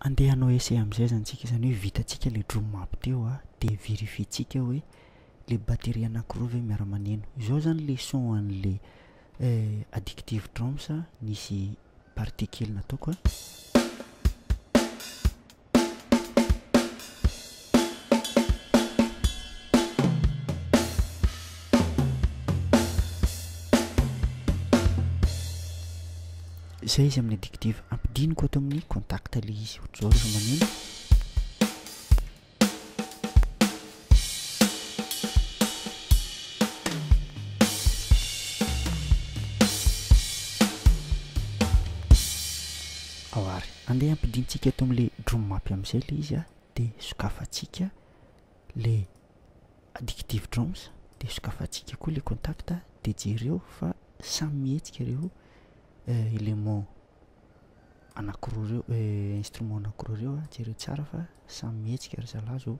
Andeha hanao essai amin'izay izany isika, izany hoe vitantsika ilay drum up teo an, dia verifientsika hoe ilay batterie anankiroa ve miara-maneno. Izao izany ilay son an'ilay addictive drums nisy partie kely nataoko an. Izay izy amin'ny adjective. Ampidiniko ato amin'ny contact ilay izy. Ohatr'izao rehefa maneno. Ao ary andeha ampidintsika eto amin'le drum map amin'izay le izy a, de sokafantsika le addictive drums de sokafantsika koa le contact de jereo fa samy mihetsika reo élément anakiroa reo instrument anakiroa reo a, jereo tsara fa samy mihetsika ry zalahy zao.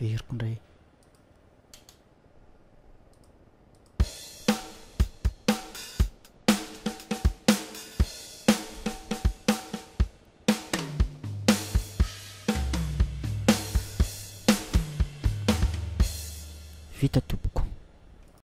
Averiko indray e. Vita tompoko.